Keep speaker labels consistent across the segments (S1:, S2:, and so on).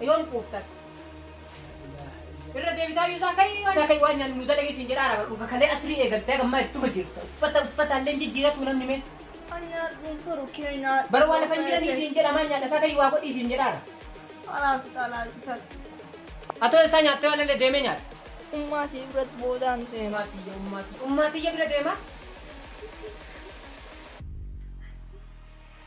S1: Yoon quuftan. Irra deebitaa iyyuu isaa ka'ii isaa ka'ii waan nyaannu nu dalagee siin jedhaa raabadhu. Kakalee asirii eegaltee gammaa ittuma jirta. Uffata uffata illee jijjiiratu namni mee. Anyaadhuun furu keenyaa. Bara waa lafan jiranii siin jedha maan nyaadha isaa ka'ii waa godhii siin jedhaa ra. Alaas xalaa bitan. Atoo isaa nyaattee waan illee deemee nyaata. Ummaa ishee biratti
S2: boodaan deema. Ummaatiyya ummaatiyya ummaatiyya
S1: bira deemaa.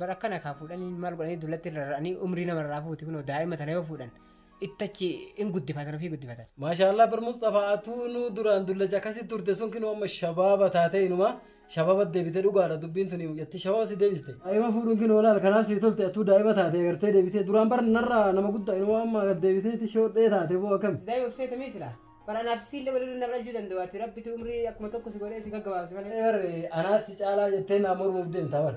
S3: Bar
S1: akkana kaa fuudhanii maal godhanii dullatti rarra'anii umrii nama irraa fuuti kunoo daa'ima tana yoo fuudhan ittachi hin guddifatan ofii guddifatan. Maashaallah bar Mustafa
S3: atuu nu duraan dullacha akkasitti turte sun kinoo amma shabaaba taatee inuma shabaaba deebite dhugaadha dubbiin tuni mucatti shabaaba si deebiste. Daa'ima fuudhuun kinoo laal kanaaf si tolte atuu daa'ima taate agartee deebite duraan bar narraa nama guddaa inuma amma deebiteeti shoodhee taate boo akkami. Daa'ima obseeta mee silaa?
S1: Bara anaaf siillee wal irra na dhalchuu danda'u ati rabbitu umrii akkuma tokko si godhee si gaggabaabse malee. Ee bar anaas si
S3: caalaa jettee naa mormuuf deemta bar.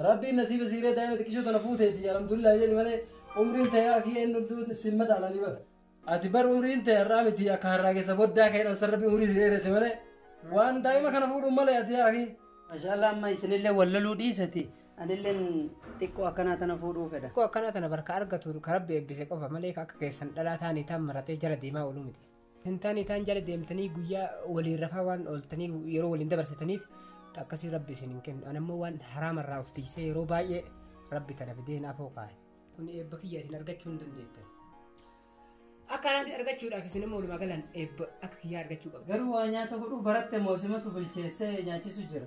S3: Rabbiin nasiiba siiree daa'ima xiqqishoo tana fuuteeti alhamdulillah jedhi malee umriin ta'e akii eenyu hunduu sin madaalanii bar. Ati bar umriin ta'e har'aa miti akka harraagessa boddaa ka'e dhalsan rabbi umrii si dheeresse malee waan daa'ima kana fuudhuun malee ati akii. Masha Allah amma isinillee wal loluu dhiisati Anilleen xiqqoo akkanaa tana fuudhuu fedha. Xiqqoo akkanaa tana barka argatu
S1: ka rabbi eebbise qofa malee ka akka keessan dhalaa taanii taan maratee jala deemaa ooluu miti. Isin taanii taan jala deemtanii guyyaa waliin rafaa waan ooltanii yeroo waliin dabarsitaniif ta akkasii rabbi isin hin kennu. Ani ammoo waan haraama irraa of tiksee yeroo baay'ee rabbi tana fidee naaf hoo kaa'e. Kun eebba kiyya isin argachuu hin dandeettan. Akka anaatti argachuudhaaf isin immoo walumaa galaan eebba akka kiyyaa argachuu qabdu. Garuu waa nyaata godhuu
S3: baratte moo simatu bilcheessee nyaachisu jira.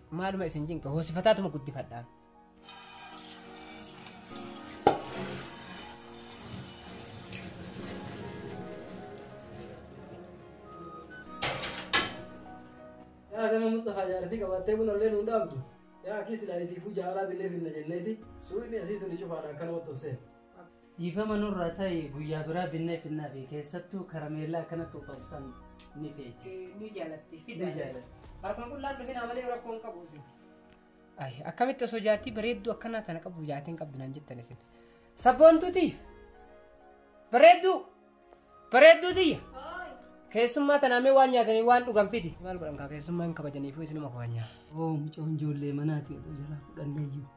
S1: Maaluma isin cinqa hoosifataatuma guddifadhaa.
S3: Yaa nama Mustafaa jaartii qabattee buna illee nuun dhaabdu. Yaa akki silaa isiifuu jaalaa billee finna jenneeti. Suuyni asii tuni cufaadha akkanumatti hossee. Dhiifama nurraa ta'i guyyaa biraa binnee finnaafi keessattuu karameellaa akkanatti xuuxan san ni feeti. Ni jaalatti.
S1: Ni jaalatti. Harkuma qullaan dhufinaa malee rakkoo hin qabu isin. Ay, akkamitti osoo jaartii bareedduu akkanaa tana qabu jaartiin qabdu naan jettan isin. Sabboontuu tiyya. Bareedduu. Bareedduu tiyya. Keessummaa tanaa mee waan nyaatanii waan dhugan fidi. Maal godhan kaa keessummaa hin kabajaniifuu isinuma kabajnaa. Oo mucoon
S3: ijoollee manaati oduu jalaa fudhanneeyyuu.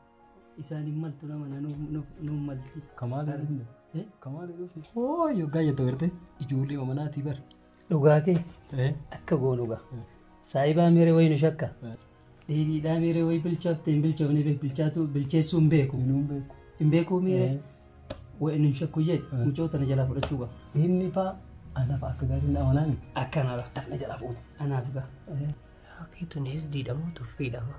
S3: Isaan hin maltu nama na nuun malti. Kamaa gaarii hin Eh? Kamaa gaarii hin Hoo yoggaa jettu garte ijoollee omanaatii bar. Dhugaa kee Eh? akka goonu gaa. Saayibaa meeree wayii nu shakka. Eh. Dheedhiidhaa meeree wayii bilchaafte hin bilchoofne bee bilchaatu bilcheessuu hin beeku. Nuun beeku. Hin beekuu meeree Eh. wayii nu hin shakku jedhe Eh. mucoo tana jalaa fudhachuu gaa. Inni faa anaaf akka gaarii hin amanaa miti. Akkanaa lafa tana jalaa fuune anaaf gaa. Yaa keetuun
S1: hesdiidha moo tuffiidha moo?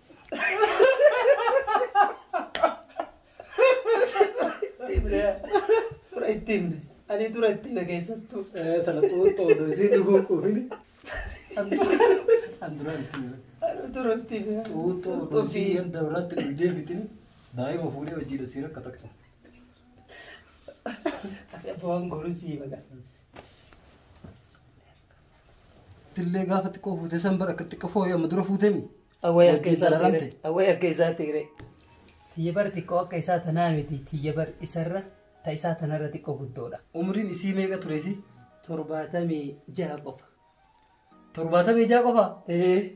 S3: Dura itti himne. Ani dura itti hime keessattuu. Tana xuuxxoo odoo isiin dhuguun quufini. An dura an dura itti hime. Ani dura itti hime. Xuuxxoo odoo isiin ganda biraatti dhugdee fixini. Daa'ima fuudhee hojiidha isiin akka takka. Afi abbaan goruu sii baga. Tillee gaafa xiqqoo fuutee san bara akka xiqqoo fooyee amma dura fuutemi. Awwee akka isaa Wajjin xiire. Awwee akka isaa xiire. Tiyya bar xiqqoo akka isaa tanaa miti. Tiyya bar isarra ta isaa tanarra xiqqoo guddoodha. Umriin isii meeqa ture isii? Torbaatamii jaha qofa. Torbaatamii jaha qofa. Ee.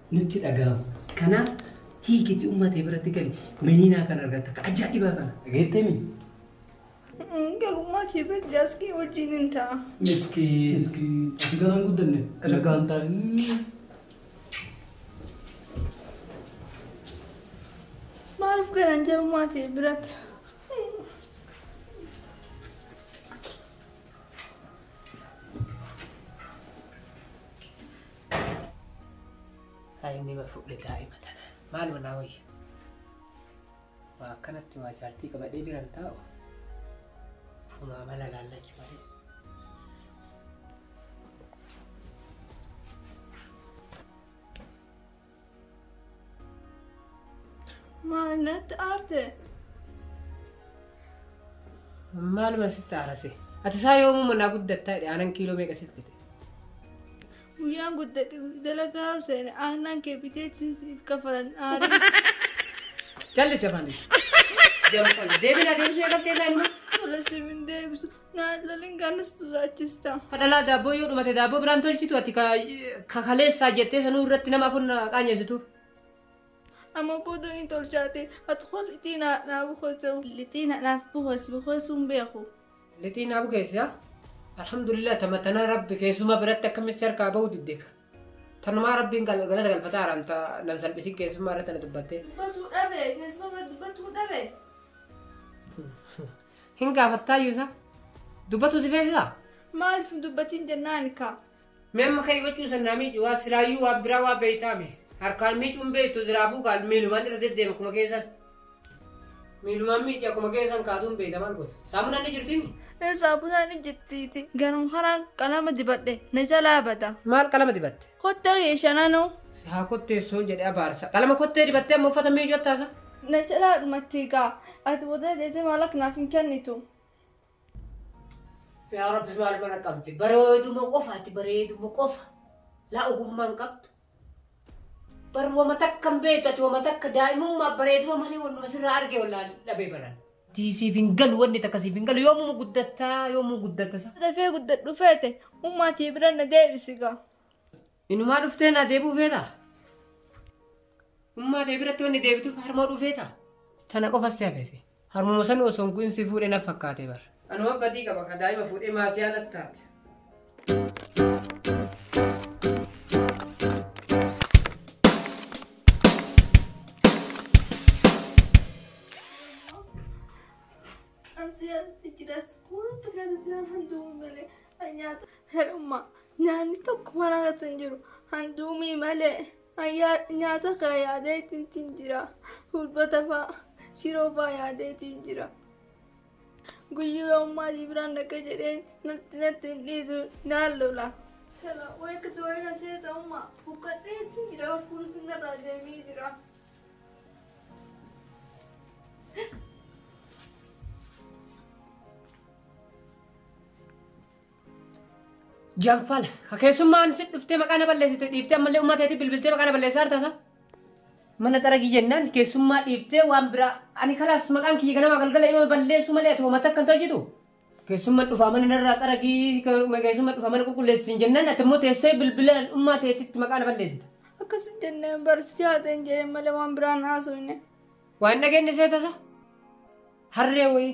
S3: nutti dhaga'amu. Kanaaf hiikiti ummata biratti gali meniinaa kan argatta ka ajaa'ibaa kana dhageettee mi?
S2: Galummaa kee beekti askii wajjin hin ta'a. Miskiin. Miskiin.
S3: Ati garaan guddanne. Nagaan ta'a.
S2: Maaliif garan jalummaa ta'e biratti?
S1: Haa inni ma fuudhe daa'ima tana. Maal manaa wayya? Waa akkanatti waa jaartii qabadhee biran taa'u. Fumaa mala laallachuu malee.
S2: Maal natti aarte?
S1: Maaluma sitti aarase? Ati isaa yoomuma naa guddattaa jedhe aanan kiiloo meeqa siif bite?
S2: Guyyaan guddadhe dalagaa seene aannan kee bitee siif kafalan aarii.
S1: Jallis afaan deebi. Deebiin adeemsuu eegaltee isaa inuma. Tola siif hin
S2: deebisu. Naallolin kanas tuzaachista. Kadhalaa daabboo yoo
S1: dhumate daabboo biraan tolchitu ati ka- ka kaleessaa jettee sanuu irratti nama afur na qaanyeessitu.
S2: Amma booda ni tolchaate. Ati koo lixii naa naa bukosew. Lixii na naaf bukosi bukosuun beeku. Lixii naa bukeessi
S1: haa. Alhamdulillah tama tanaa rabbi keessumaa biratti akkamitti harkaa bahu diddeeka. Tanumaa rabbiin gal- galata galfataa araan ta nan salphisin keessumaa irratti na dubbattee. Dubbatuu dhabe keessuma
S2: bira dubbatuu dhabe.
S1: Hin gaafattaayyuu isa. Dubbatuu si feesisa? Maaliif hin dubbatiin
S2: jennaan kaa. Mee amma ka'ii
S1: gochuu sannaa miicu waa silaayyuu waan biraa waa beeytaame. Harkaan miicuun beeytu ziraafuu kaal miilumaan irra deddeema akkuma keessan. Miilumaan miici akkuma keessan kaatuun beeyta maal goota. Saamunaan ni jirtimi? Ee saamunaan ni
S2: jirtiiti. Garuu haraan qalama dibadhe na jalaa bada. Maal qalama dibatte?
S1: Kottee kee shananoo.
S2: Si haa kotteessuun
S1: jedhe abaarsa. Qalama kottee dibattee amma uffata miicoo taasa. Na jalaa
S2: dhumattii gaa. Ati booda deetee maalaqa naaf hin kennitu.
S1: Yaa rabbi maal mana qabdi bareeduma qofa ati bareeduma qofa laa ogummaa hin qabdu bar wama takka hin beektu ati wama takka daa'imummaa bareeduma malee wannuma sirraa arge wallaahi dhabee baran. Tii siif hin galu wanni takka siif hin galu yoomuma guddatta yoomuu guddatta sa. Dafee guddadhu
S2: feete ummaa tee bira na deebisi gaa. Inumaa
S1: dhuftee naa deebi'uu feeta? Ummaa tee biratti wanni deebituuf harmoo dhufeeta? Tana qofa si hafese. Harmuma sanu osoo hin ku'in si fuudhe na fakkaate bar. Anuma badii qaba ka daa'ima fuudhee maasiyaa na taate.
S2: Herummaa nyaanni tokko mana irratti hin jiru. Handuumii malee nyaata kana yaadee ittiin jira. Hulbata fa'aa shiroo fa'aa yaadee ittiin jira. Guyyuu ammaa si biraan dhaqa jedhee natti natti hin dhiisu naan lola. Kana wayka du'eera seeta ammaa buqqadhee ittiin jira hafuun sinarraa deemee jira.
S1: Janfala. Ka keessummaan si dhuftee maqaa na balleessite dhiiftee ammallee uummata keetii bilbiltee maqaa na balleessaa harta isaa. Mana xaragii jennaan keessummaa dhiiftee waan biraa ani kalaas maqaan kiyya ganama galgala yoo balleessu malee ati hoomata akka hin hojjetu. Keessummaan dhufaa mana narraa xaragii keessummaan dhufaa mana qulqulleessin jennaan ati immoo teessee bilbilaan uummata keetitti maqaa na balleessita. Akkas jennee
S2: barsiisaa ta'e hin jedhin malee waan biraan haasofne. Waan dhageenye
S1: seetasa harree wayii.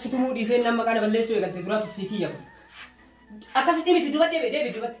S1: Situmuu dhiisee nama maqaa na balleessuu eegalte duraatu sii kiyya. Akkasitti miti dubadde bee deebi dubatti.